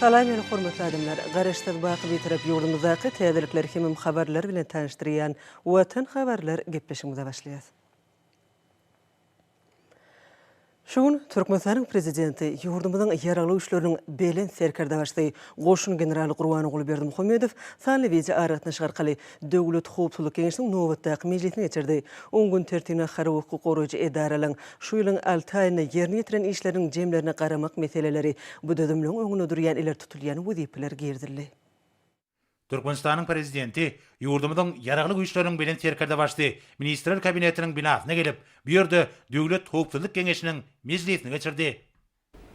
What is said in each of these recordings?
Salam meni hormatly adamlar! Garaşsyz baky Bitarap ýurdumyzdaky täzelikler hemem habarlar bilen tanyşdyrýan Watan habarlar gepleşigimize başlaýas. Şu gün Türkmenistanyň Prezidenti, ýurdumyzyň Ýaragly Güýçleriniň Belent Serkerdebaşysy, goşun generaly Gurbanguly Berdimuhamedow sanly wideoaragatnaşyk arkaly Döwlet howpsuzlyk geňeşiniň nobatdaky mejlisini geçirdi. Oň gün tertibine harby hukuk goraýjy edaralaryň şu ýylyň alty aýynda ýerine ýetiren işleriniň jemlerine garamak meseleleri, bu düzümligiň öňünde durýan ileri tutulýan wezipeler girizildi. Türkmenistanyň Prezidenti ýurdumyzyň Ýaragly Güýçleriniň Belent Serkerdebaşy Ministrler Kabinetiniň binasyna gelip, bu ýerde Döwlet howpsuzlyk geňeşiniň mejlisini geçirdi.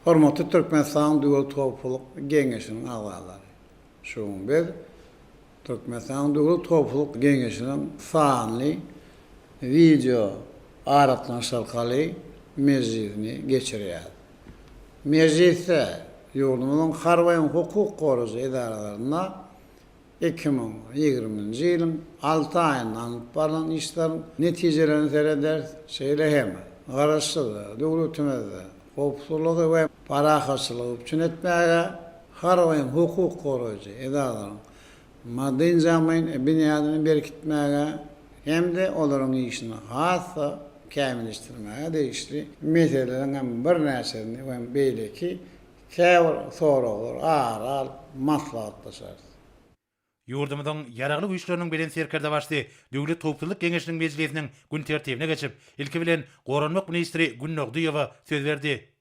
Hormatly Türkmenistanyň Döwlet howpsuzlyk geňeşiniň agzalary! Şu gün biz Türkmenistanyň Döwlet howpsuzlyk geňeşiniň sanly wideo aragatnaşyk arkaly mejlisini geçirýäris. Mejlisde ýurdumyzyň harby hem hukuk goraýjy edaralarynda Iki müň ýigriminji ýylyň alty aýynda alnyp barlan işleriň netijelerine serederis, şeýle hem Garaşsyz döwletimizde howpsuzlygy we parahatçylygy üpjün etmäge harbyň hukuk goraýjy edaralaryň maddy-enjamlaýyn binýadyny berkitmäge hem-de olaryň işini has-da kämilleşdirmäge degişli meseleleriň hem birnäçesini we beýleki Käbir soraglary ara alyp maslahatlaşarys. Ýurdumyzyň Ýaragly Güýçleriniň Belent Serkerdebaşysy Döwlet howpsuzlyk geňeşiniň mejlisiniň gün tertibine geçip, ilki bilen, goranmak ministri Günnogdyýewa söz berdi.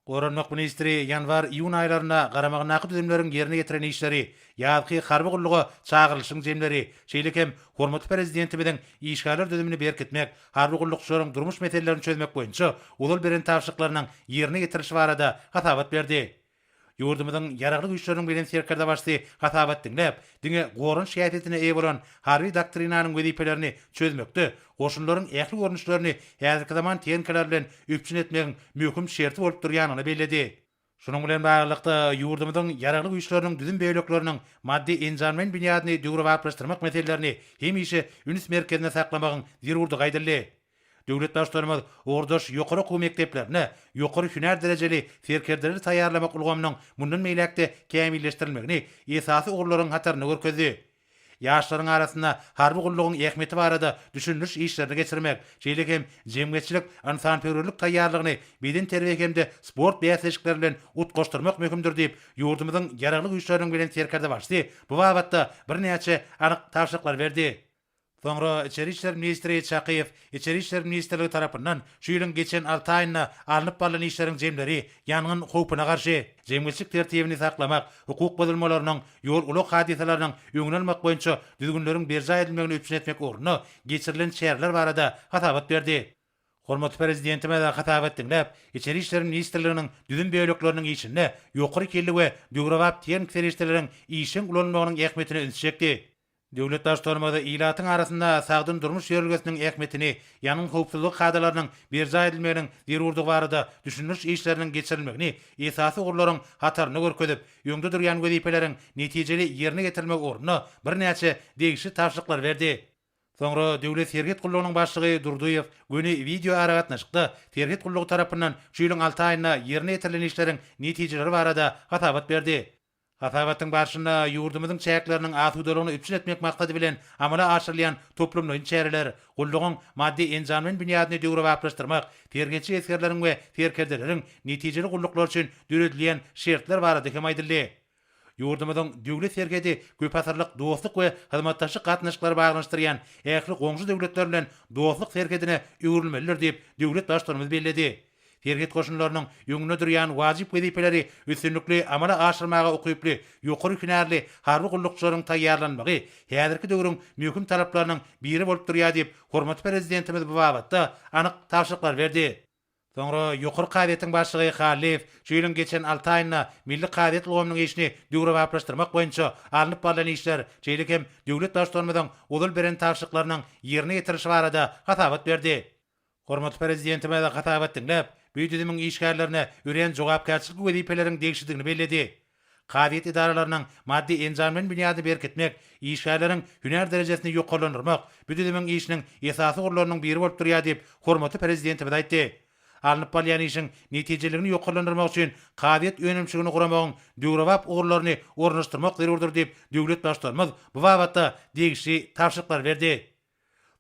Goranmak ministri ýanwar-iýun aýlarynda garamagyndaky düzümleriň ýerine ýetiren işleri, ýazky harby gulluga çagyrylyşyň jemleri, şeýle hem hormatly Prezidentimiziň işgärler düzümini berkitmek, harby gullukçylaryň durmuş meselelerini çözmek boýunça ozal beren tabşyryklarynyň ýerine ýetirilişi barada hasabat berdi. Ýurdumyzyň Ýaragly Güýçleriniň Belent Serkerdebaşysy hasabat diňläp, diňe goranyş häsiýetine eýe bolan Harby doktrinanyň wezipelerini çözmekde goşunlaryň ähli görnüşlerini häzirki zaman tehnikalar bilen üpjün etmegiň möhüm şerti bolup durýanyny belledi. Şunuň bilen baglylykda, ýurdumyzyň Ýaragly Güýçleriniň düzüm bölekleriniň maddy-enjamlaýyn binýadyny döwrebaplaşdyrmak meselelerini hemişe üns merkezinde saklamagyň zerurdygy aýdyldy. Döwlet Baştutanymyz ugurdaş ýokary okuw mekdeplerine ýokary hünär derejeli serkerdeleri taýýarlamak ulgamynyň mundan beýläk-de kämilleşdirilmegini esasy ugurlaryň hatarynda görkezdi. ýaşlaryň arasynda harby gullugyň ähmiýeti barada düşündiriş işlerini geçirmek, şeýle hem jemgyýetçilik ynsanperwerlik taýýarlygyny bedenterbiýe hem-de sport bäsleşikleri bilen utgaşdyrmak möhümdir diýip, ýurdumyzyň Ýaragly Güýçleriniň Belent Serkerdebaşysy bu babatda birnäçe anyk tabşyryklary berdi. Soňra Içeri işler ministri Çakyýew Içeri işler ministrligi tarapyndan şu ýylyň geçen alty aýynda alnyp barlan işleriň jemleri ýangyn howpuna garşy, jemgyýetçilik tertibini saklamak, hukuk bozulmalarynyň, ýol-ulag hadysalarynyň öňüni almak boýunça düzgünleriň berjaý edilmegini üpjün etmek ugrunda geçirilen çäreler barada hasabat berdi. Hormatly Prezidentimiz hasabat diňläp, Içeri işler ministrliginiň düzüm bölekleriniň işinde ýokary hilli we döwrebap tehniki serişdeleriň işjeň ulanylmagynyň ähmiýetine ünsi çekdi. Döwlet Baştutanymyz ilatyň arasynda sagdyn durmuş ýörelgesiniň ähmiýetini, ýangyn howpsuzlygy kadalarynyň berjaý edilmeginiň zerurdygy barada düşündiriş işleriniň geçirilmegini esasy ugurlaryň hatarynda görkezip, öňde durýan wezipeleriň netijeli ýerine ýetirilmegi ugrunda birnäçe degişli tabşyryklary berdi. Soňra Döwlet serhet gullugynyň başlygy Durdyýew göni wideoaragatnaşykda serhet gullugy tarapyndan şu ýylyň alty aýynda ýerine ýetirilen işleriň netijeleri barada hasabat berdi. Hasabatyň barşynda ýurdumyzyň çäkleriniň asudalygyny üpjün etmek maksady bilen amala aşyrylýan toplumlaýyn çäreler, gullugyň maddy-enjamlaýyn binýadyny döwrebaplaşdyrmak, terbiýeçi esgerleriň we serkerdeleriň netijeli gulluklary üçin döredilýän şertler barada hem aýdyldy. Ýurdumyzyň Döwlet serhedi köpasyrlyk dostluk we hyzmatdaşlyk gatnaşyklary baglanyşdyrýan ähli goňşy döwletler bilen dostluk serhedine öwrülmelidir diýip, döwlet Baştutanymyz belledi. Serhet goşunlarynyň öňünde durýan wajyp wezipeleri üstünlikli amala aşyrmaga ukyply ýokary hünärli harby gullukçylaryň taýýarlanmagy häzirki döwrüň möhüm talaplarynyň biri bolup durýar diýip, hormatly Prezidentimiz bu babatda anyk tabşyryklar berdi. Soňra Ýokary kazyýetiň başlygy Hallyýew şu ýylyň geçen alty aýynda milli kazyýet ulgamynyň işini döwrebaplaşdyrmak boýunça alnyp barlan işler, şeýle hem döwlet Baştutanymyzyň ozal beren tabşyryklarynyň ýerine ýetirilişi barada hasabat berdi. Hormatly Prezidentimiz hasabat diňläp, bu düzümiň işgärlerine örän jogapkärçilikli wezipeleriň degişlidigini belledi. Kazyýet edaralarynyň maddy-enjamlaýyn binýadyny berkitmek, işgärleriň hünär derejesini ýokarlandyrmak bu düzümiň işiniň esasy ugurlarynyň biri bolup durýar diýip, hormatly Prezidentimiz aýtdy. Alnyp barylýan işiň netijeliligini ýokarlandyrmak üçin kazyýet önümçiligini guramagyň döwrebap ugurlaryny ornaşdyrmak zerurdyr diýip, döwlet Baştutanymyz bu babatda degişli tabşyryklary berdi.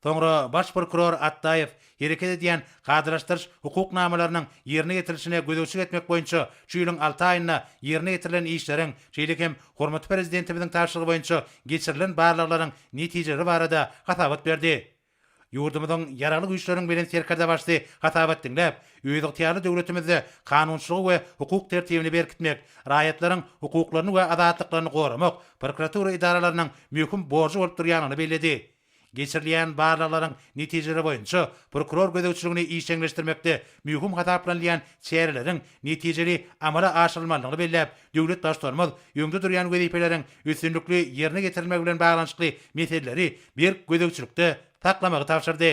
Soňra baş prokuror Atdaýew hereket edýän kadalaşdyryş hukuk namalarynyň ýerine ýetirilişine gözegçilik etmek boýunça şu ýylyň alty aýynda ýerine ýetirilen işleriň, şeýle hem hormatly Prezidentimiziň tabşyrygy boýunça geçirilen barlaglaryň netijeleri barada hasabat berdi. Ýurdumyzyň Ýaragly Güýçleriň Belent Serkerdebaşysy hasabat diňläp, özygtyýarly döwletimizde kanunçylygy we hukuk tertibini berkitmek, raýatlaryň hukuklaryny we azatlyklaryny goramak, prokuratura edaralarynyň möhüm borjy bolup durýandygyny belledi. Geçirilýän barlaglaryň netijeleri boýunça prokuror gözegçiligini işjeňleşdirmekde möhüm hasaplanylýan çäreleriň netijeli amala aşyrylmalydygyny belläp, döwlet Baştutanymyz öňde durýan wezipeleriň üstünlikli ýerine ýetirilmegi bilen baglanyşykly meseleleri berk gözegçilikde saklamagy tabşyrdy.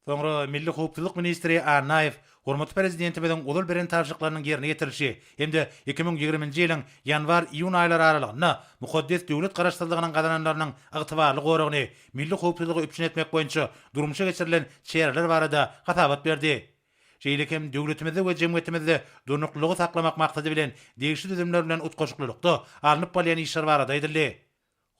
Soňra milli howpsuzlyk ministri Annaýew hormatly Prezidentimiziň ozal beren tabşyryklarynyň ýerine ýetirilişi hem-de iki müň ýigriminji ýylyň ýanwar-iýun aýlary aralygynda mukaddes döwlet Garaşsyzlygynyň gazananlarynyň ygtybarly goragyny, milli howpsuzlygy üpjün etmek boýunça durmuşa geçirilen çäreler barada hasabat berdi. Şeýle hem döwletimizde we jemgyýetimizde durnuklylygy saklamak maksady bilen degişli düzümler bilen utgaşyklylykda alnyp barylýan işler barada aýdyldy.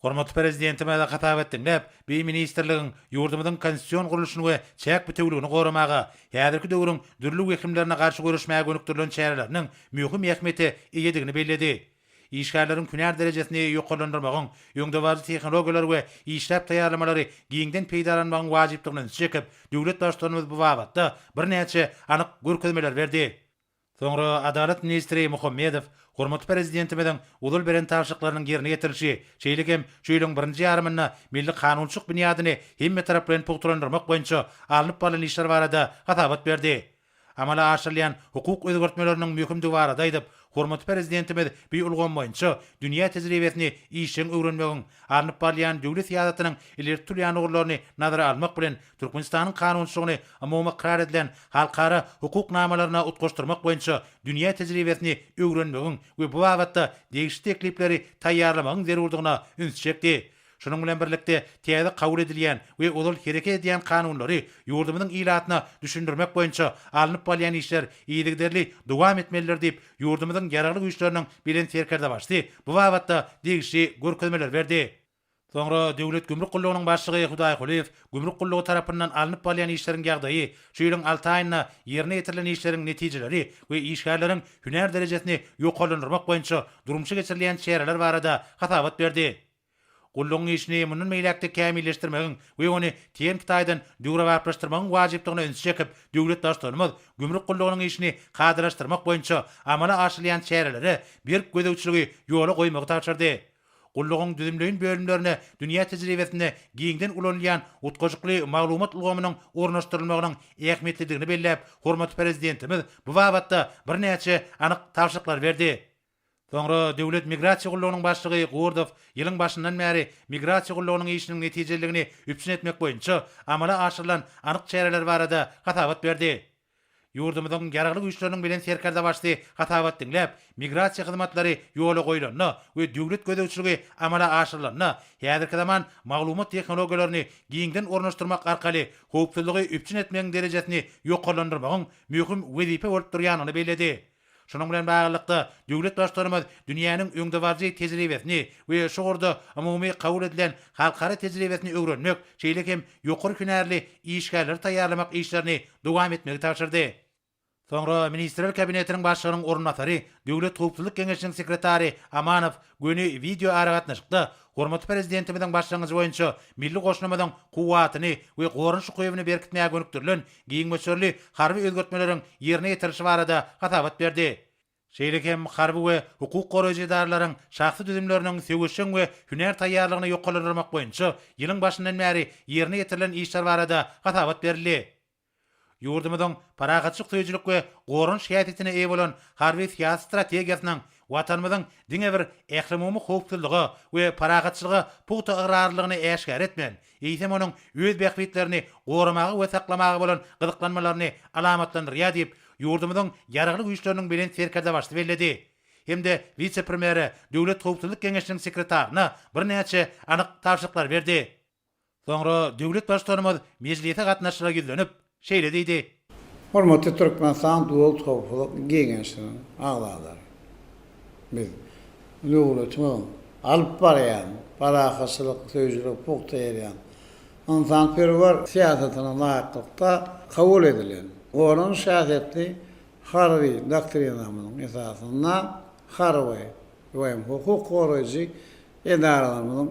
Hormatly Prezidentimize hasap et diňläp, bi ministrligiň ýurdumyzyň konstitusion gurluşyny we çäk bitewüligini goramaga, häzirki döwrüň dürli wehimlerine garşy göreşmäge gönükdirilen çäreleriniň möhüm ähmiýete eýedigini belledi. Işgärleriň hünär derejesini ýokarlandyrmagyň, öňdebaryjy tehnologiýalary we işläp taýýarlamalary giňden peýdalanmagyň wajypdygyny ünsi çekip, döwlet Baştutanymyz bu babatda birnäçe anyk görkezmeler berdi. Soňra Adalat ministri Muhammedow hormatly Prezidentimiziň ozal beren tabşyryklarynyň ýerine ýetirilişi, şeýle hem şu ýylyň birinji ýarymynda milli kanunçylyk binýadyny hemmetaraplaýyn pugtalandyrmak boýunça alnyp barlan işler barada hasabat berdi. Amala aşyrylýan hukuk özgertmeleriniň möhümdigi barada aýdyp, hormatly Prezidentimiz bu ulgam boýunça dünýä tejribesini işjeň öwrenmegiň, alnyp barylýan döwlet syýasatynyň ileri tutulýan ugurlaryny nazara almak bilen, Türkmenistanyň kanunçylygyny umumy ykrar edilen halkara hukuk namalaryna utgaşdyrmak boýunça dünýä tejribesini öwrenmegiň we bu babatda degişli teklipleri taýýarlamagyň zerurdygyna üns çekdi. Şunuň bilen birlikde, täze kabul edilýän we ozal hereket edýän kanunlary ýurdumyzyň ilatyna düşündirmek boýunça alnyp barylýan işler yzygiderli dowam etmelidir diýip, ýurdumyzyň Ýaragly Güýçleriniň Belent Serkerdebaşysy bu babatda degişli görkezmeler berdi. Soňra Döwlet gümrük gullugynyň başlygy Hudaýkulyýew gümrük gullugy tarapyndan alnyp barylýan işleriň ýagdaýy, şu ýylyň alty aýynda ýerine ýetirilen işleriň netijeleri we işgärleriň hünär derejesini ýokarlandyrmak boýunça durmuşa geçirilýän çäreler barada hasabat berdi. Gullugyň işini mundan beýläk-de kämilleşdirmegiň we ony tehniki taýdan döwrebaplaşdyrmagyň wajypdygyna ünsi çekip, döwlet Baştutanymyz gümrük gullugynyň işini kadalaşdyrmak boýunça amala aşyrylýan çärelere berk gözegçiligi ýola goýmagy tabşyrdy. Gullugyň düzümleýin bölümlerine dünýä tejribesinde giňden ulanylýan utgaşykly maglumat ulgamynyň ornaşdyrylmagynyň ähmiýetlidigini belläp, hormatly Prezidentimiz bu babatda birnäçe anyk tabşyryklary berdi. Soňra Döwlet migrasiýa gullugynyň başlygy Gurdow ýylyň başyndan bäri migrasiýa gullugynyň işiniň netijeliligini üpjün etmek boýunça amala aşyrylan anyk çäreler barada hasabat berdi. Ýurdumyzyň Ýaragly Güýçleriniň Belent Serkerdebaşysy hasabat diňläp, migrasiýa hyzmatlary ýola goýlanda we döwlet gözegçiligi amala aşyrylanda häzirki zaman maglumat tehnologiýalaryny giňden ornaşdyrmak arkaly howpsuzlygy üpjün etmegiň derejesini ýokarlandyrmagyň möhüm wezipe bolup durýandygyny belledi. Şunuň bilen baglylykda, döwlet Baştutanymyz dünýäniň öňdebaryjy tejribesini we şu ugurda umumy kabul edilen halkara tejribesini öwrenmek, şeýle hem ýokary hünärli işgärleri taýýarlamak işlerini dowam etmegi tabşyrdy. Soňra Ministrler Kabinetiniň Başlygynyň orunbasary, Döwlet howpsuzlyk geňeşiniň sekretary Amanow göni wideoaragatnaşykda hormatly Prezidentimiziň başlangyjy boýunça milli goşunymyzyň kuwwatyny we goranyş ukybyny berkitmäge gönükdirilen giň möçberli harby özgertmeleriň ýerine ýetirilişi barada hasabat berdi. Şeýle hem harby we hukuk goraýjy edaralaryň şahsy düzümleriniň söweşjeň we hünär taýýarlygyny ýokarlandyrmak boýunça ýylyň başyndan bäri ýerine ýetirilen işler barada hasabat berildi. Ýurdumyzyň parahatçylyk söýüjilik we goranyş häsiýetine eýe bolan harby-syýasy strategiýasynyň Watanymyzyň diňe bir ählumumy howpsuzlyga we parahatçylyga pugta ygrarlylygyny äşgär etmän, eýsem onuň öz bähbitlerini goramaga we saklamaga bolan gyzyklanmalaryny alamatlandyrýar diýip, ýurdumyzyň Ýaragly Güýçleriniň Belent Serkerdebaşysy belledi hem-de wise-premýere, Döwlet howpsuzlyk geňeşiniň sekretaryna birnäçe anyk tabşyryklary berdi. Soňra döwlet Baştutanymyz mejlise gatnaşyjylara ýüzlenip, şeýle diýdi. Hormatly Türkmenistan Döwlet howpsuzlyk geňeşiniň agzalary! Biz döwletimiziň alyp barýan parahatçylyk söýüjilik pugta ýerýän ynsanperwer syýasatyna laýyklykda kabul edilen goranyş häsiýetli harby doktrinamyzyň esasynda harby we hem hukuk goraýjy edaralarymyzyň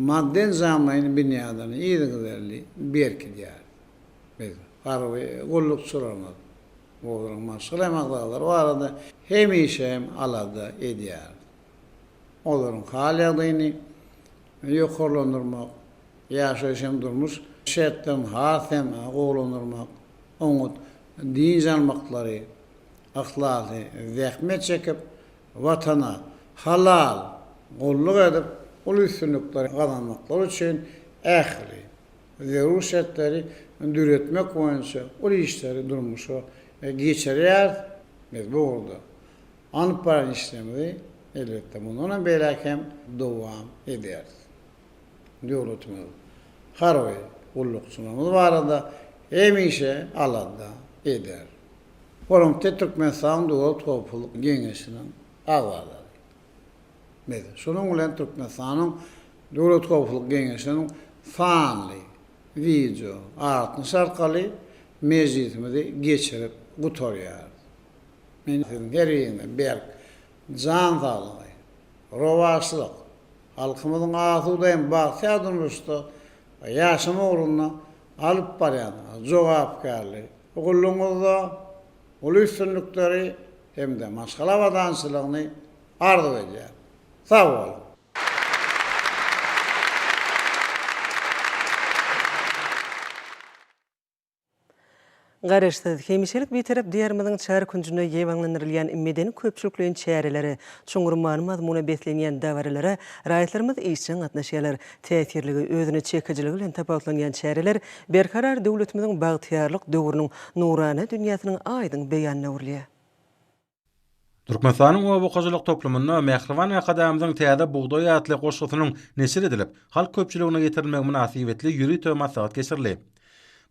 maddy-enjamlaýyn binýadyny yzygiderli berkidýäris. Biz, harby gullukçylarymyz, Ozunyň maşgala magzalary barada hemişe hem alada edýäris. Olaryň hal-ýagdaýyny ýokarlandyrmak, ýaşaýyş hem durmuş şertlerini has hem gowulandyrmak, oňat dynç almaklary, yhlasly zähmet çekip, Watana halal gulluk edip, uly üstünlikleri gazanmaklary üçin ähli zerur şertleri döretmek boýunça uly işleri durmuşa geçirýärys. Biz bu ugurda alnyp baran işlerimizi, elbetde, mundanam beýläk hem dowam ederis. Döwletimiz, harby gullukçylarymyz barada hemişe alada eder. Olaryň tä Türkmenistanyň Döwlet howpsuzlyk geňeşiniň agzalary, etmedi. Şunuň bilen Türkmenistanyň Döwlet howpsuzlyk geňeşiniň sanly wideo gatnaşy arkaly mejlisimizi geçirip gutarýarys. Men siziň her biriňize berk jan saglygy, rowaçlyk, halkymyzyň asuda hem bagtyýar durmuşda ýaşama ugrunda alyp barýan jogapkärli gullugyňyzda uly üstünlikleri hem-de maşgala abadançylygyny arzuw edýär. Sag boluň! Garaşsyz, hemişelik Bitarap Diýarymyzyň çar künjünde ýaýbaňlandyrylýan medeni-köpçülikleýin çärelere, çuňňur many-mazmuna beslenýän dabaralara raýatlarymyz işjeň gatnaşýarlar, täsirligi, özüne çekijiligi bilen tapawutlanýan çäreler Berkarar döwletimiziň bagtyýarlyk döwrüniň nurana dünýäsiniň aýdyň beýanyna öwrülýär. Türkmenistanyň oba hojalyk toplumynda Mähriban Arkadagymyzyň Täze bugdaý atly goşgusynyň neşir edilip, halk köpçüligine ýetirilmegi mynasybetli ýörite maslahat geçirildi.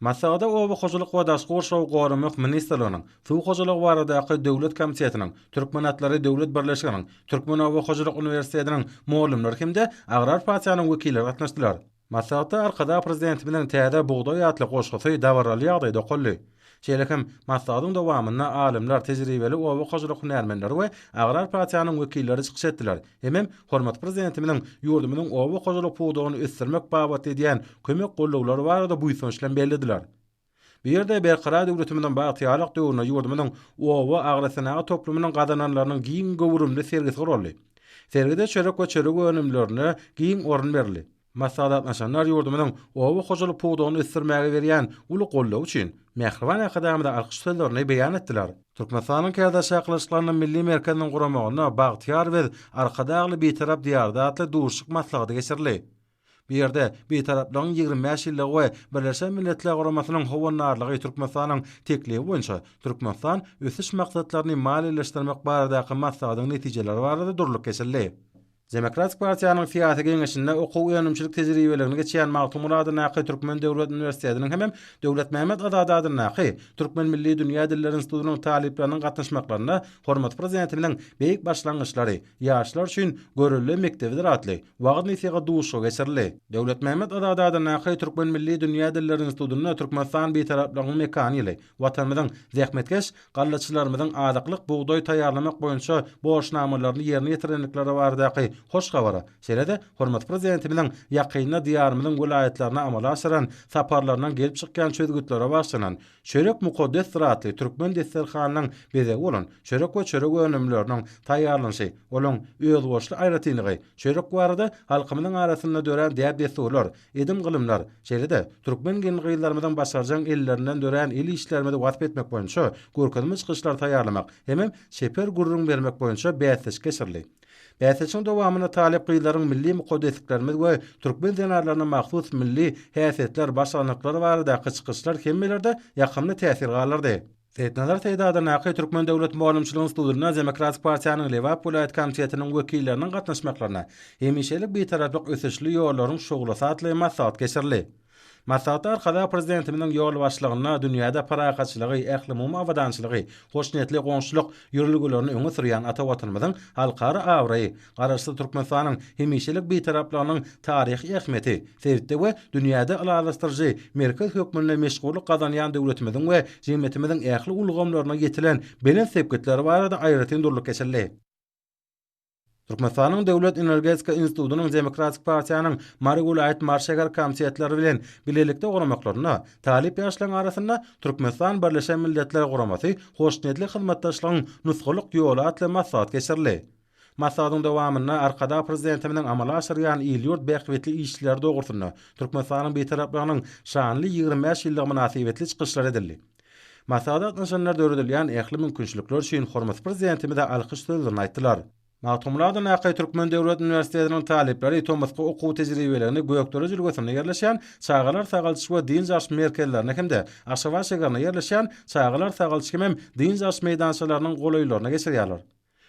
Maslahata Oba hojalyk we daşky gurşawy goramak ministrliginiň Suw hojalygy baradaky döwlet komitetiniň, Türkmenatlary döwlet birleşiginiň, Türkmenoba hojalyk uniwersitetiniň mugallymlary hem-de Agrar partiýanyň wekilleri gatnaşdylar. Maslahatda Arkadag Prezidentimiziň täze Bugdaý atly goşgusy dabaraly ýagdaýda okaldy. Şeýle hem, maslahatyň dowamynda alymlar, tejribeli oba hojalyk hünärmenleri we agrar partiýanyň wekilleri çykyş etdiler, hemem hormatly Prezidentimiziň ýurdumyzyň oba hojalyk pudagyny ösdürmek babatda edýän kömek gollaglary barada buýsanç bilen bellediler. Bu ýerde Berkarar döwletimiziň bagtyýarlyk döwründe ýurdumyzyň oba agrosenagat toplumynyň gazananlarynyň giň göwrümli sergisi guraldy. Sergide çörek we çörek önümlerine giň orun berildi. Maslahat gatnaşanlar ýurdumyzyň oba hojalyk pudagyny ösdürmäge berýän uly goldawy üçin mähriban Arkadagymyza alkyş sözlerini beýan etdiler. Türkmenistanyň Kärdeş çakylyşyklarynda milli merkeziniň guramagynda Bagtyýar biz, Arkadagly Bitarap diýarda atly duşuşyk maslahaty geçirildi. Bu ýerde Bitaraplygyň ýigrimi bäş ýyllygy we Birleşen Milletler Guramasynyň howandarlygy Türkmenistanyň teklibi boýunça Türkmenistan ösüş maksatlaryny maliýeleşdirmek baradaky maslahatyň netijeleri barada durlup geçildi. Demokratik partiýanyň syýasy geňeşinde okuw-önümçilik tejribeligini geçýän Magtymguly adyndaky Türkmen döwlet uniwersitetiniň hemem Döwletmämmet Azady adyndaky Türkmen milli dünýä dilleri institutynyň talyplarynyň gatnaşmaklarynda hormatly Prezidentimiziň beýik başlangyçlary, ýaşlar üçin görelde mekdebidir atly wagyz-nesihat duşuşygy geçirildi. Döwletmämmet Azady adyndaky Türkmen milli dünýä dilleri institutynda Türkmenistan Bitaraplygyň mekany ýyly Watanymyzyň zähmetkeş, gallaçylarymyzyň azyklyk bugdaý taýýarlamak boýunça borçnamalaryny ýerine ýetirendikleri baradaky hoş habara, şeýle-de hormatly Prezidentimiziň ýakynda Diýarymyzyň welaýatlaryna amala aşyran saparlaryndan gelip çykýan çözgütlere bagyşlanan Çörek mukaddesdir atly türkmen desterhanynyň bezegi bolan çörek we çörek önümleriniň taýýarlanyşy, olaň özboluşly aýratynlygy, çörek barada halkymyzyň arasynda dörän däp-dessurlar, edim-gylymlar, şeýle-de türkmen gelin-gyzlarymyzyň başarjaň ellerinden dörän el işlerimizi wasp etmek boýunça görkezme çykyşlary taýýarlamak hemem çeper gürrüň bermek boýunça bäsleşik geçirildi. Bäsleşigiň dowamynda talyp gyzlaryň milli mukadesliklerimiz we türkmen zenanlaryna mahsus milli häsiýetler, başarnyklary baradaky çykyşlar hemmelerde ýakymly täsir galdyrdy. Seýitnazar Seýidadanaky Türkmen döwlet mugallymçylyk institutynda Demokratik partiýanyň Lebap welaýat komitetiniň wekilleriniň gatnaşmaklarynda Hemişelik Bitaraplyk ösüşli ýollaryň şuglasy atly maslahat geçirildi. Maslahatda Arkadagly Prezidentimiziň ýolbaşçylygynda dünýäde parahatçylygy, ählumumy abadançylygy, hoşniýetli goňşulyk ýörelgelerini öňe sürýän ata Watanymyzyň halkara abraýy, Garaşsyz Türkmenistanyň hemişelik Bitaraplygynyň taryhy ähmiýeti, sebitde we dünýäde ylalaşdyryjy merkez hökmünde meşhurlyk gazanýan döwletimiziň we jemgyýetimiziň ähli ulgamlaryna ýetilen belent sepgitleri barada aýratyn durlup geçildi. Türkmenistanyň Döwlet energetika institutynyň Demokratik partiýanyň Mary welaýat Mary şäher komitetleri bilen bilelikde guramaklarynda talyp ýaşlaryň arasynda Türkmenistan Birleşen Milletler Guramasy hoşniýetli hyzmatdaşlygyň nusgalyk ýoly atly maslahat geçirildi. Maslahatyň dowamynda Arkadag Prezidentimiziň amala aşyrýan il-ýurt bähbitli işleri dogrusynda, Türkmenistanyň Bitaraplygynyň şanly ýigrimi bäş ýyllygy mynasybetli çykyşlar edildi. Maslahata gatnaşanlar döredilýän ähli mümkinçilikler üçin hormatly Prezidentimize alkyş sözlerini aýtdylar. Magtymguladyndaky Türkmen döwlet uniwersitetiniň talyplary tomusky okuw tejribeligini Gökdere jülgesinde ýerleşýän Çagalar sagaldyş we dynç alyş merkezlerine hem-de Aşgabat şägerinde ýerleşýän Çagalar sagaldyş hemem dynç alyş meýdançalarynyň golaýlaryna geçirýärler.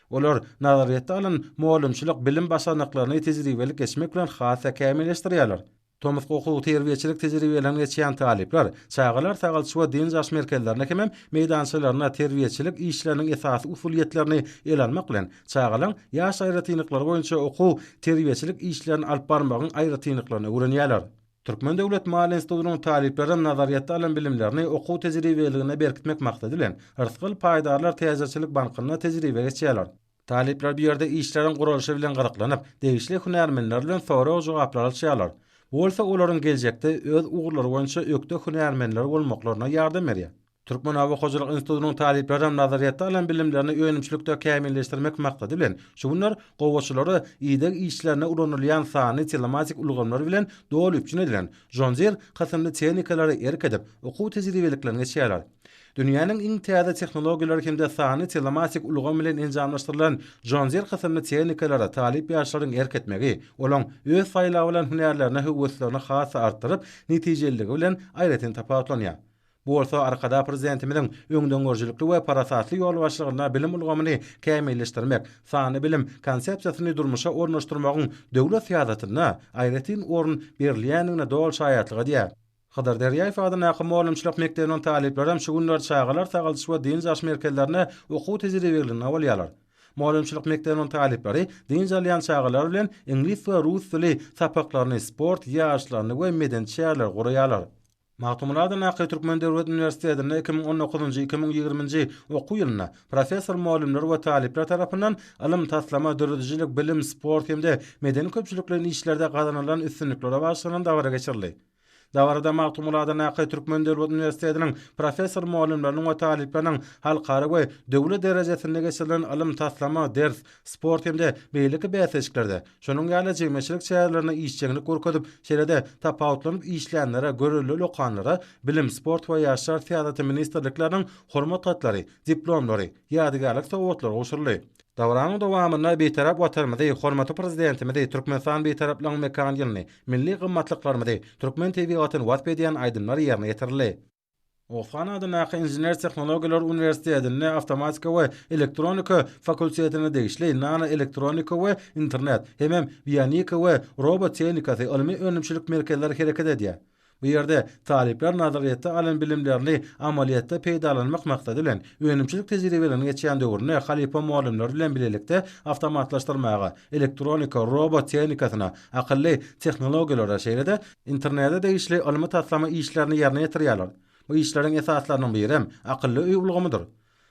Olar nazaryýetde alan mugallymçylyk bilim başarnyklaryny tejribelik geçmek bilen has-da kämilleşdirýärler. Tomusky okuw-terbiýeçilik tejribeliginden geçýän talyplar çagalar sagalçy we dynç alyş merkezlerinde hemem meýdançalarynda terbiýeçilik işleriniň esasy usulyýetlerini ele almak bilen, çagalaryň ýaş aýratynlyklary boýunça okuw-terbiýeçilik işlerini alyp barmagyň aýratynlyklaryny öwrenýärler. Türkmen döwlet maliýe institutynyň talyplaryň nazaryýetde alan bilimlerini okuw tejribeligine berkitmek maksady bilen, Rysgal paýdarlar täjirçilik bankynda tejribe geçýärler. Talyplar bu ýerde işleriň guralyşy bilen gyzyklanyp, degişli hünärmenler bilen sorag-jogaplar alyşýarlar. Bu bolsa olaryň geljekde öz ugurlary boýunça ökde hünärmenler bolmaklaryna ýardam berýär. Türkmen oba hojalyk institutynyň talyplaram nazaryýetde alan bilimlerini önümçilikde kämilleşdirmek maksady bilen, şu günler gowaçalara ideg işlerinde ulanylýan sanly telematik ulgamlar bilen doly üpjün edilen John Deere kysymly tehnikalary erk edip, okuw tejribeliklerini geçýärler. Dünýäniň iň täze tehnologiýalary hem-de sanly telematik ulgam bilen enjamlaşdyrylan John Deere kysymly tehnikalara talyp ýaşlaryň erk etmegi, olaň öz saýlabylan hünärlerine höweslerini has-da artdyryp, netijeliligi bilen aýratyn tapawutlanýar. Bu bolsa Arkadag Prezidentimiziň öňdengörüjilikli we parasatly ýol başlygynda bilim ulgamyny kämilleşdirmek, sanly bilim Konsepsiýasyny durmuşa ornaşdyrmagyň döwlet syýasatynda aýratyn orun berilýändigine doly şaýatlyk edýär. Hydyr Derýaýew adyndaky mugallymçylyk mekdebiniň talyplary hem şu günler çagalar sagaldyş we dynç alyş merkezlerinde okuw-tejribeliginde bolýarlar. Mugallymçylyk mekdebiniň talyplary dynç alýan çagalar bilen iňlis we rus dili sapaklaryny, sport ýaryşlaryny we medeni çäreleri guraýarlar. Magtymguly Nakaý Türkmen döwlet uniwersitetinde iki müň on dokuzynjy, iki müň ýigriminji okuw ýylynda professor-mugallymlar we talyplar tarapyndan ylym, taslama, döredijilik, bilim, sport hem-de medeni-köpçülikleýin işlerde gazanylan üstünliklere bagyşlanan dabara geçirildi. Dabarada Magtymguly Nakaý Türkmen döwlet uniwersitetiniň professor-mugallymlarynyň we talyplarynyň halkara we döwlet derejesinde geçirilen ylym, taslama, ders, sport hem-de beýleki bäsleşiklerde, şonuň ýaly jemgyýetçilik çärelerinde işjeňlik görkezip, şeýle-de tapawutlanyp işleýänlere, görelde ulokanlara bilim, sport we ýaşlar syýasaty ministrlikleriniň Hormat hatlary, diplomlary, ýadygärlik sowgatlary gowşuryldy. Dabaranyň dowamynda Bitarap Watanymyzy, hormatly Prezidentimizi, Türkmenistan Bitaraplygyň mekan ýylyny, milli gymmatlyklarymyzy, türkmen tebigatyny wasp edýän aýdymlar ýerine ýetirildi. Osman adyndaky Inžener tehnologiýalar uniwersitetinde Awtomatika we elektronika fakultetine degişli Nanoelektronika we internet hemem Bionika we robot tehnikasy ylmy-önümçilik merkezleri hereket edýär. Bu ýerde talyplar nazaryýetde alan bilimlerini amalyýetde peýdalanmak maksady bilen, önümçilik tejribeleriniň geçýän döwründe halypa mugallymlar bilen bilelikde awtomatlaşdyrmaga, elektronika, robot tehnikasyna, akylly tehnologiýalara, şeýle-de, Internete degişli ylmy-taslama işlerini ýerine ýetirýärler. Bu işleriň esaslarynyň birem akylly öý ulgamydyr.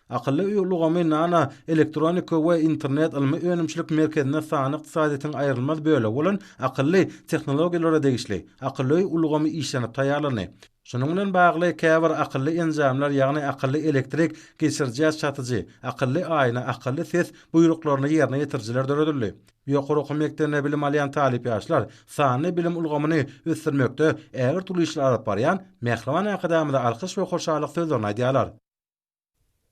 Akylly öý ulgamy Nano elektronika we internet ylmy önümçilik merkezinde sanly ykdysadyýetiň aýrylmaz bölegi bolan akylly tehnologiýalara degişli akylly öý ulgamy işlenip taýýarlandy. Şunuň bilen bagly käbir akylly enjamlar ýagny akylly elektrik geçirijä çatyjy, akylly aýna, akylly ses buýruklaryny ýerine ýetirijiler döredildi. Ýokary okuw mekdebinde bilim alýan talyp ýaşlar sanly bilim ulgamyny ösdürmekde ägirt uly işler alyp barýan mähriban Arkadagymyza alkyş we hoşallyk sözlerini aýdýarlar.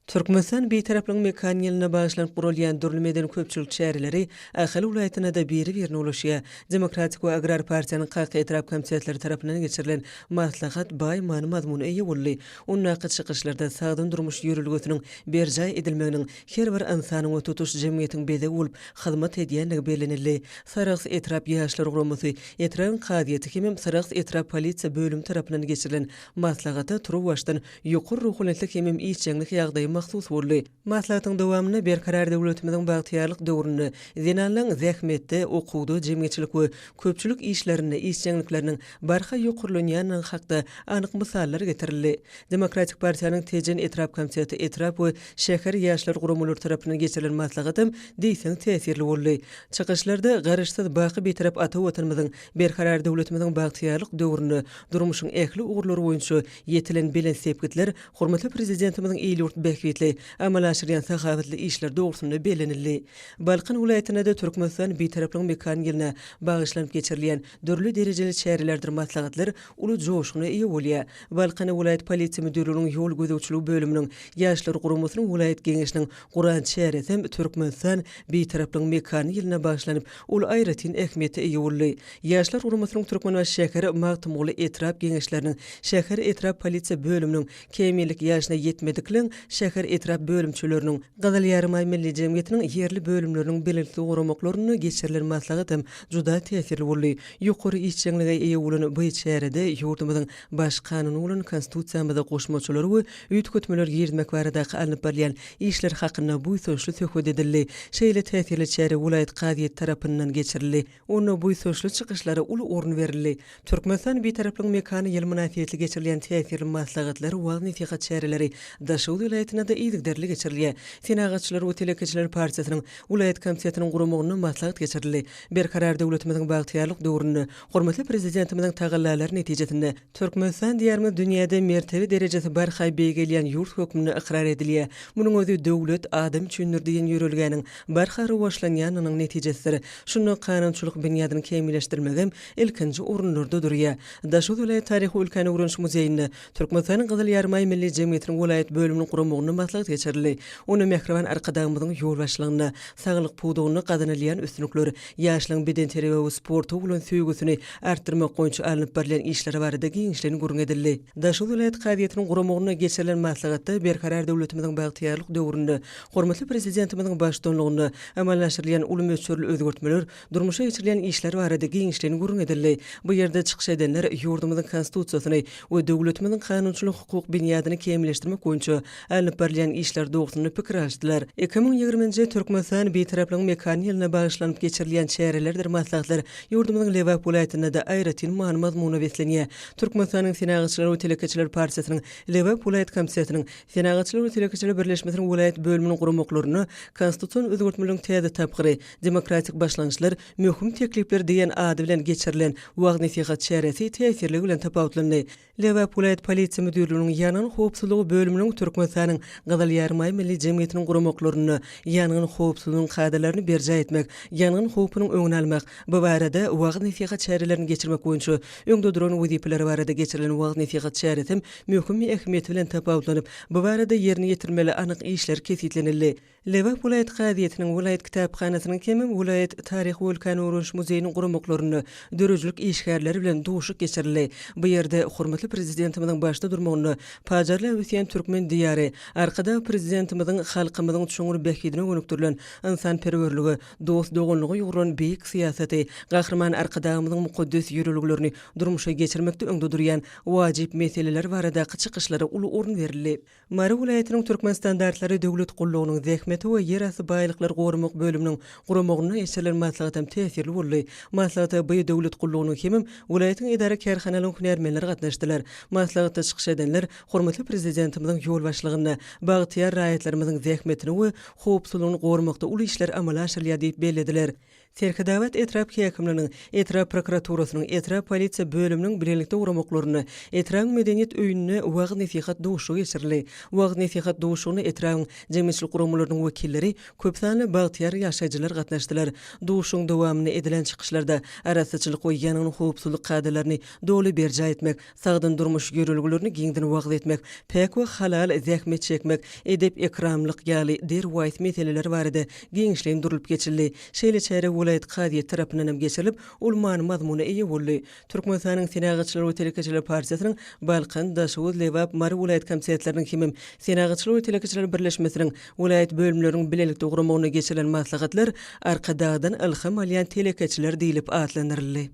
Türkmenistan Bitaraplygyň mekan ýylyna bagyşlanyp guralýan dürli medeni-köpçülik çäreleri Ahal welaýatynda-da biri-birine ulaşýar. Demokratik we Agrar partiýanyň Kaka etrap komitetleri tarapyndan geçirilen maslahat baý many-mazmuna eýe boldy. Ondaky çykyşlarda sagdyn durmuş ýörelgesiniň berjaý edilmeginiň Her bir ynsanyň we tutuş jemgyýetiň bezegi bolup hyzmat edýändigi bellenildi. Sarahs etrap ýaşlar guramasy, etrabyň kazyýeti hemem Sarahs etrap polisiýa bölümi tarapyndan geçirilen maslahata turuwbaşdan ýokary ruhanyýetlik hemem işjeňlik ýagdaýy mahsus boldy. Maslahatyň dowamynda Berkarar döwletimiziň bagtyýarlyk döwründe zenanlaryň zähmetde, okuwda, jemgyýetçilik we köpçülik işlerinde işjeňlikleriniň barha ýokarlanýandygy hakda anyk mysallar getirildi. Demokratik partiýanyň Tejen etrap komiteti etrap we Şäher ýaşlar guramalary tarapyndan geçirilen maslahatam diýseň täsirli boldy. Çykyşlarda Garaşsyz, baky Bitarap ata Watanymyzyň, Berkarar döwletimiziň bagtyýarlyk döwründe durmuşyň ähli ugurlary boýunça ýetilen belent sepgitler, hormatly Prezidentimiziň il-ýurt bähbitli amala aşyrýan sahawatly işleri dogrusynda bellenildi. Balkan welaýatynda-da Türkmenistan Bitaraplygyň mekan ýylyna bagyşlanyp geçirilýän Dürli derejeli çärelerdir maslahatlar uly joşguna eýe bolýar. Balkan welaýat polisiýa müdirliginiň ýol gözegçiligi bölüminiň, Ýaşlar guramasynyň welaýat geňeşiniň guran çäresi hem Türkmenistan, Bitaraplygyň mekany ýylyna bagyşlanyp, ol aýratyn ähmiýete eýe boldy. Ýaşlar guramasynyň Türkmenbaşy şäher, Magtymguly etrap geňeşleriniň, şäher, etrap polisiýa bölüminiň, Kämillik ýaşyna ýetmedikleň şäher etrap bölümçeleriniň, Gyzyl Ýarymaý Milli jemgyýetiniň ýerli bölümleriniň belentli goramaklarynda geçirilen maslahat hem juda täsirli boldy. Ýokary işjeňlige eýe bolan by çärede ýurdumyzyň Baş Kanuny bolan Konstitusiýamyza goşmaçalar we üýtgetmeler girizmek baradaky alnyp barylýan işler hakynda buýsançly söhbet edildi. Şeýle täsirli çäre welaýat kazyýeti tarapyndan geçirildi. Onda buýsançly çykyşlara uly orun berildi. Türkmenistan Bitaraplygyň mekany ýyly mynasybetli geçirilýän täsirli maslahatlar, wagyz-nesihat çäreleri Daşoguz welaýatynda-da yzygiderli geçirilýär. Senagatçylar we telekeçiler partiýasynyň welaýat komitetiniň guramagynda maslahat geçirildi. Berkarar döwletimiziň bagtyýarlyk döwründe hormatly Prezidentimiziň tagallalary netijesinde, Türkmenistan diýarymyz dünýäde mertebe derejesi barha beýgelýän ýurt hökmünde ykrar edilýär. Munuň özi Döwlet, adam üçindir! diýen ýörelgäniň barha rowaçlanýanynyň netijesidir. Şunda kanunçylyk binýadyny kämilleşdirmegem ilkinji orunlarda durýar. Daşoguz welaýat taryhy-ülkäni öwreniş muzeýinde Türkmenistanyň Gyzyl Ýarymaý Milli jemgyýetiniň welaýat bölüminiň guramagynda maslahat geçirildi. Onda Mähriban Arkadagymyzyň ýolbaşçylygynda saglyk pudagynda gazanylýan üstünlikler, Ýaşlaryň bedenterbiýe we sporta bolan söýgüsini artdyrmak boýunça alnyp barylýan işler barada giňişleýin gürrüň edildi. Daşoguz welaýat kazyýetiniň guramagynda geçirilen maslahatda Berkarar döwletimiziň bagtyýarlyk döwründe hormatly Prezidentimiziň baştutanlygynda amala aşyrylýan uly möçberli özgertmeler, durmuşa geçirilýän işler barada giňişleýin gürrüň edildi. Bu ýerde çykyş edenler ýurdumyzyň Konstitusiýasyny we döwletimiziň kanunçylyk-hukuk binýadyny kämilleşdirmek boýunça Alnyp barylýan işler dogrusynda pikir alyşdylar. Iki müň ýigriminji Türkmenistan Bitaraplygyň mekany ýylyna bagyşlanyp geçirilýän çärelerdir maslahatlar ýurdumyzyň Lebap welaýatynda-da aýratyn many-mazmuna beslenýär. Türkmenistanyň Senagatçylar we telekeçiler partiýasynyň Lebap welaýat komitetiniň, Senagatçylar we telekeçiler birleşmesiniň welaýat bölüminiň guramaklarynda Konstitusion özgertmeleriň täze tapgyry, demokratik başlangyçlar, möhüm teklipler diýen ady bilen geçirilen wagyz-nesihat çäresi täsirligi bilen tapawutlandy. Lebap welaýat polisiýa müdirliginiň ýangyn howpsuzlygy bölüminiň Türkmenistanyň Gyzyl Ýarymaý Milli jemgyýetiniň guramaklarynda ýangyn howpsuzlygynyň kadalaryny berjaý etmek, ýangyn howpunyň öňüni almak, bu barada wagyz-nesihat çärelerini geçirmek boýunça öňde duran wezipeler barada geçirilen wagyz-nesihat çäresem möhüm ähmiýeti bilen tapawutlanyp, bu barada ýerine ýetirilmeli anyk işler kesgitlenildi. Lebap welaýat kazyýetiniň, welaýat kitaphanasynyň hem-ä welaýat Taryh-wulkan öwreniş muzeýiniň guramaklarynda döredijilik işgärleri bilen duşuk geçirildi. Bu ýerde hormatly Prezidentimiziň başda durmagynda pajarlap ösýän türkmen Diýary, Arkadag Prezidentimiziň halkymyzyň çuňňur bähbidine gönükdirilen ynsanperwerlige, dost-doganlyga ýugrulan beýik syýasaty, Gahryman Arkadagymyzyň mukaddes ýörelgelerini durmuşa geçirmekde öňde durýan wajyp meseleler baradaky çykyşlara uly orun berildi. Mary welaýatynyň Türkmenstandartlary döwlet gullugynyň Zähmeti we ýerasty baýlyklary goramak bölüminiň guramagynda geçirilen maslahat hem täsirli boldy. Maslahata by döwlet gullugynyň hemem welaýatyň edara-kärhanalaryň hünärmenleri gatnaşdylar. Maslahatda çykyş edenler hormatly Prezidentimiziň ýolbaşçylygynda bagtyýar raýatlarymyzyň zähmetini we howpsuzlygyny goramakda uly işler amala aşyrylýar diýip bellediler. Serhedabat etrap häkimliginiň, etrap prokuraturasynyň, etrap polisiýa bölüminiň bilelikde guramaklarynda etrabyň medeniýet öýünde wagyz-nesihat duşuşygy geçirildi. Wagyz-nesihat duşuşygyna etrabyň jemgyýetçilik guramalarynyň wekilleri, köp sanly bagtyýar ýaşaýjylar gatnaşdylar. Duşuşygyň dowamynda edilen çykyşlarda arassaçylyk we ýangyn howpsuzlyk kadalaryny doly berjaý etmek, Sagdyn durmuş ýörelgelerini giňden wagyz etmek, päk we halal zähmet çekmek, edep-ekramlyk ýaly derwaýys meseleler barada giňişleýin durlup geçildi. Şeýle çäre welaýat kazyýeti tarapyndan hem geçirilip, ol many-mazmuna eýe boldy. Türkmenistanyň Senagatçylar we telekeçiler partiýasynyň Balkan, Daşoguz, Lebap, Mary welaýat komitetleriniň hemem Senagatçylar we telekeçiler birleşmesiniň welaýat bölümleriniň bilelikde guramagynda geçirilen maslahatlar Arkadagdan ylham alýan telekeçiler diýlip atlandyryldy.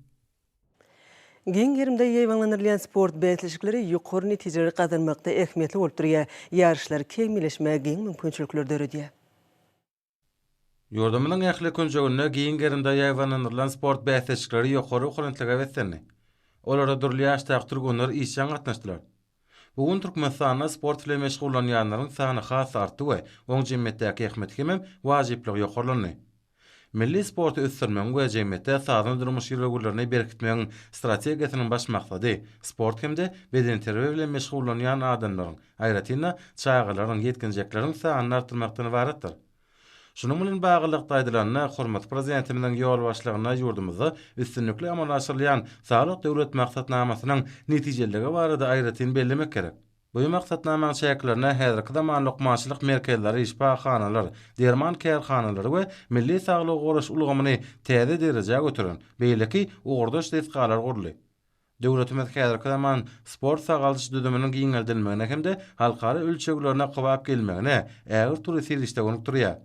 Giň gerimde ýaýbaňlandyrylýan sport bäsleşikleri ýokary netijeleri gazanmakda ähmiýetli bolup durýar, ýaryşlary kämilleşmäge giň mümkinçilikleri döredýär. Ýurdumyzyň ähli künjeginde giň gerimde ýaýbaňlandyrylan sport bäsleşikleri ýokary okonentlige beslendi. Olara dürli ýaşdaky türgenler işjeň gatnaşdylar. Bu gün Türkmenistanda sport bilen meşgullanýanlaryň sany has artdy we oň jemgyýetdäki ähmiýeti hemem wajyplygy ýokarlandy. Milli sporty ösdürmegiň we jemgyýetde sazly durmuş ýörelgelerini berkitmegiň strategiýasynyň baş maksady sport hem-de bedenterbiýe bilen meşgullanýan adamlaryň, aýratyn-da, çagalaryň, ýetginjekleriň sanyny artdyrmakdan ybaratdyr. Şunuň bilen baglylykda aýdylanda, hormatly Prezidentimiziň ýolbaşçylygynda ýurdumyzda üstünlikli amala aşyrylýan Saglyk Döwlet maksatnamasynyň netijeliligi barada aýratyn bellemek gerek. Bu maksatnamanyň çäklerinde häzirki zaman lukmançylyk merkezleri, şypahanalar, derman kärhanalary we milli saglygy goraýyş ulgamyny täze derejä göteren beýleki ugurdaş desgalar guruldy. Döwletimiz häzirki zaman sport-sagaldyş düzüminiň giňeldilmegine hem-de halkara ölçeglerine kybap gelmegine ägirt uly serişde bolup durýar.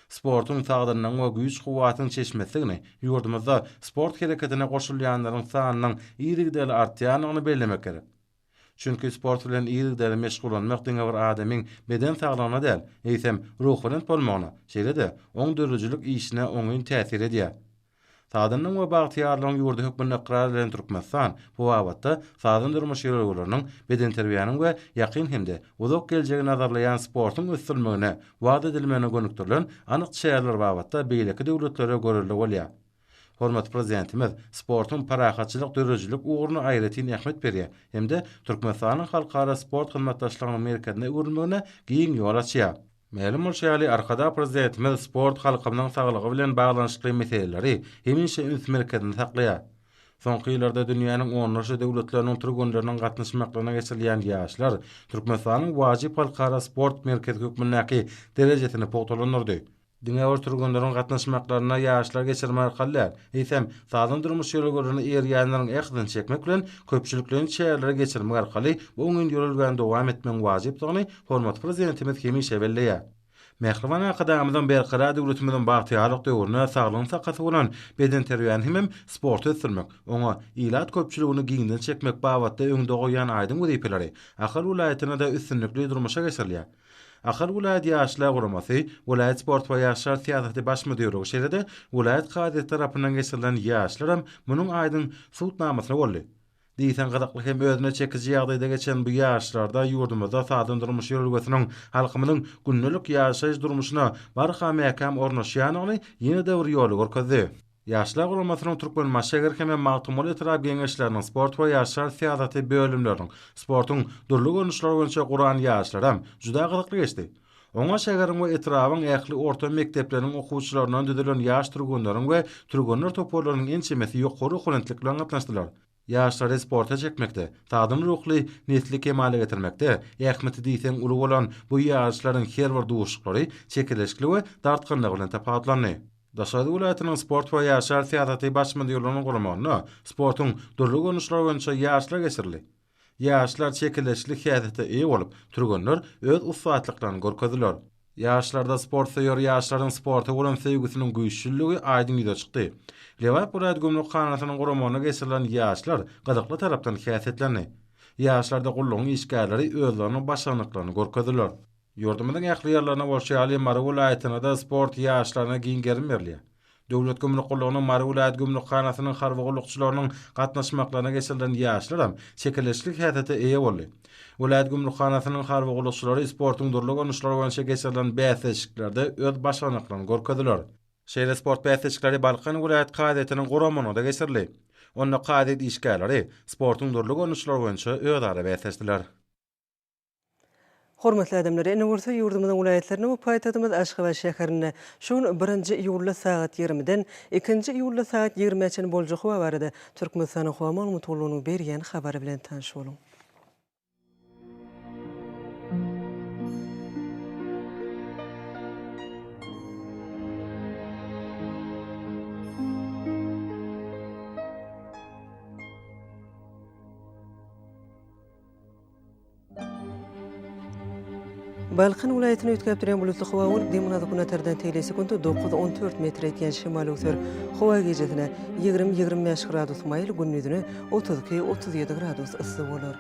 Sportuň sagdynlygyň we güýç-kuwwatyň çeşmesidigini, ýurdumyzda sport hereketine goşulýanlaryň sanynyň yzygiderli artýandygyny bellemek gerek. Çünki sport bilen yzygiderli meşgullanmak diňe bir adamyň beden saglygyna däl, eýsem, ruhubelent bolmagyna, şeýle-de oň döredijilik işine oňyn täsir edýär. Sazandyň we bagtyýarlygyň ýurdy hökmünde ykrar edilen Türkmenistan bu babatda sazan durmuş ýörelgeleriniň, bedenterbiýäniň we ýakyn hem-de uzak geljegi nazarlaýan sportuň ösdürilmegine, wagyz edilmegine gönükdirilen anyk çäreler babatda beýleki döwletlere görelde bolýar. Hormatly Prezidentimiz sportuň parahatçylyk döredijilik ugruna aýratyn ähmiýet berýär hem-de Türkmenistanyň halkara sport hyzmatdaşlygynyň merkezine öwrülmegine giň ýol açýar. Mälim bolşy ýaly, Arkadag Prezidentimiz sport halkymyzyň saglygy bilen baglanyşykly meseleleri hemişe üns merkezinde saklaýar. Soňky ýyllarda dünýäniň onlarça döwletleriniň türgenleriniň gatnaşmaklygyna geçirilýän Ýaşlar Türkmenistanyň wajyp halkara sport merkezi hökmündäki derejesini pugtalandyrdy. Diňe bir türgenleriň gatnaşmaklaryna ýaşlar geçirme arkaly däl, eýsem, sagdyn durmuş ýörelgelerine eýerýänleriň ähtini çekmek bilen, köpçülikleýin çäreleri geçirmek arkaly bu oňyn ýörelgäni dowam etmegiň wajypdygyny Hormatly Prezidentimiz hemişe belleýär. Mähriban Arkadagymyzyň Berkarar döwletimiziň bagtyýarlyk döwründe saglygyň sakasy bolan bedenterbiýäni hemem sporty ösdürmek, oňa ilat köpçüligini giňden çekmek babatda öňde goýýan aýdyň wezipeleri Ahal welaýatynda-da üstünlikli durmuşa geçirilýär. Ahal welaýat Ýaşlar guramasy, welaýat sport we ýaşlar syýasaty baş müdirligi şeýle-de welaýat kazyýeti tarapyndan geçirilen ýaryşlaram munuň aýdyň subutnamasy boldy. Diýseň gyzykly hem özüne çekiji ýagdaýda geçen bu ýaryşlarda ýurdumyzda sazdan durmuş ýörelgesiniň halkymyzyň gündelik ýaşaýyş durmuşyna barha mäkäm ornaşýanyny ýene-de bir ýola görkezdi. Ýaşlar guramasynyň Türkmenbaşşäger hem-ä Magtymguly etrap Geňeşleriniň sport we ýaşlar syýasaty bölümleriniň sportuň dürli görnüşleri boýunça guran ýaryşlaram juda gyzykly geçdi. Oňa şäheriň we etrabyň ähli orta mekdepleriniň okuwçylaryndan düzülen ýaş türgenleriň we türgenler toparlarynyň ençemesi ýokary okuwlentlik bilen gatnaşdylar. Ýaşlary sporta çekmekde, sagdyn ruhly nesli kemala getirmekde ähmiýeti diýseň uly bolan bu ýaryşlaryň her bir duşuşyklary çekeleşikli we dartgynlygy bilen tapawutlandy. Daşoguz welaýatynyň sport we ýaşlar syýasaty baş müdirliginiň guramagynda sportuň dürli görnüşleri boýunça ýaryşlar geçirildi. Ýaşlar çekeleşikli häsiýete eýe bolup, türgenler öz ussatlyklaryny görkezdiler. Ýaşlarda sportsöýer ýaşlaryň sporta bolan söýgüsiniň güýçlüligi aýdyň ýüze çykdy. Lebap welaýat gümrükhanasynyň guramagynda geçirilen ýaşlar gyzykly tarapdan häsiýetlendi. Ýaşlarda gullugyň işgärleri özleriniň başarnyklaryny görkezdiler. Ýurdumyzyň ähli ýerlerinde bolşy ýaly, Mary welaýatynda-da sport ýaşlaryna giň gerim berilýär. Döwlet gümrük gullugynyň Mary welaýat gümrükhanasynyň harby gullukçylarynyň gatnaşmaklygyna geçirilen ýaşlaram çekeleşikli häsiýete eýe boldy. Welaýat gümrükhanasynyň harby gullukçylary sportuň dürli görnüşleri boýunça geçirilen bäsleşiklerde öz başarnyklaryny görkezdiler. Şeýle sport bäsleşikleri Balkan welaýat kazyýetiniň guramagynda geçirildi. Onda kazyýet işgärleri sportuň dürli görnüşleri boýunça özara bäsleşdiler. Hormatly adamlar, ene gursa ýurdumyzyň welaýatlarynda we paýtagtymyz Aşgabat şäherinde şu gün birinji iýulda sagat ýigrimiden ikinji iýulda sagat ýigrimä çenli boljak howa barada Türkmenistanyň Howa Maglumatgullugynyň berýän habary bilen tanyş boluň. Balkan welaýatyny üýtgäp durýan bulutly howa bolup, dem gazy günatardan teýle sekuntda dokuz-on dört metr etýän şemal öwser. Howa gijesine ýigrimi-ýigrimi bäş gradus maýyl, gündizine otuz iki-otuz ýedi gradus yssy bolar.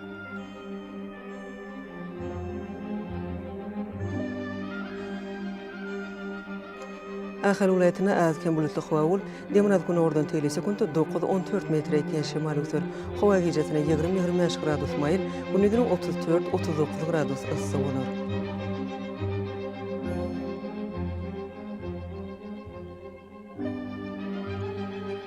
Ahal welaýatynda az-kem bulutly howa bolup, demirgazgünordan tegelýär, sekuntda dokuz, on dört metre ýetýän şemal öwser. Howa gijäsine ýigrimi, ýigrimi bäş gradus maýyl, gündiziniň otuz dört, otuz dokuz gradus yssy bolar.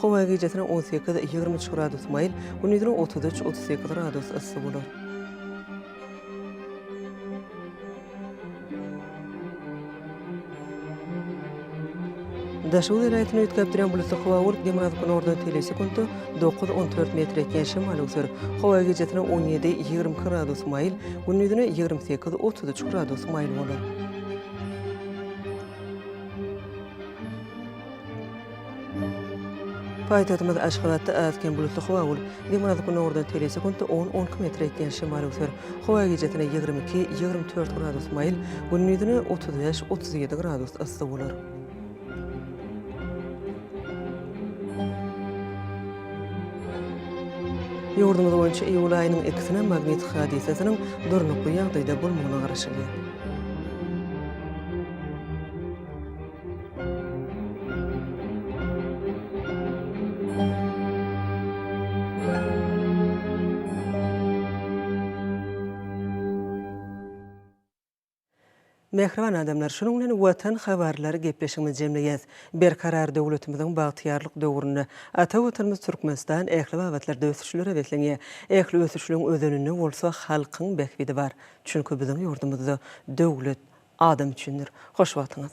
Howa gijesine on sekiz, ýigrimi üç gradus maýyl, gündizine otuz üç, otuz sekiz gradus yssy bolar. Daşoguz welaýatyny üýtgäp durýan bulutly howa bolup, demirgazyk günordan telli sekuntda dokuz, on dört metr ýetýän şemal öwser. Howa gijesine on ýedi, ýigrimi iki gradus maýyl, gündizine ýigrimi sekiz, otuz üç gradus maýyl bolar. Paýtagtymyz Aşgabatda az-kem bulutly howa bolup, demirgazyk gündogardan tele sekuntda on-on iki metr ekýän şemal öwser. Howa gijesine ýigrimi iki, ýigrimi dört gradus maýyl, gündizine otuz bäş, otuz ýedi gradus yssy bolar. Ýurdumyz boýunça iýul aýynyň ikisine magnit hadysasynyň durnukly ýagdaýda bolmagyna garaşylýar. Mähriban adamlar, şunuň bilen Watan habarlary gepleşigimizi jemleýäs. Berkarar döwletimiziň bagtyýarlyk döwründe ata Watanymyz Türkmenistan ähli babatlarda ösüşlere beslenýär. Ähli ösüşligiň özeninde bolsa halkyň bähbidi bar. Çünki biziň ýurdumyzda döwlet Adam üçindir. Hoş wagtyňyz.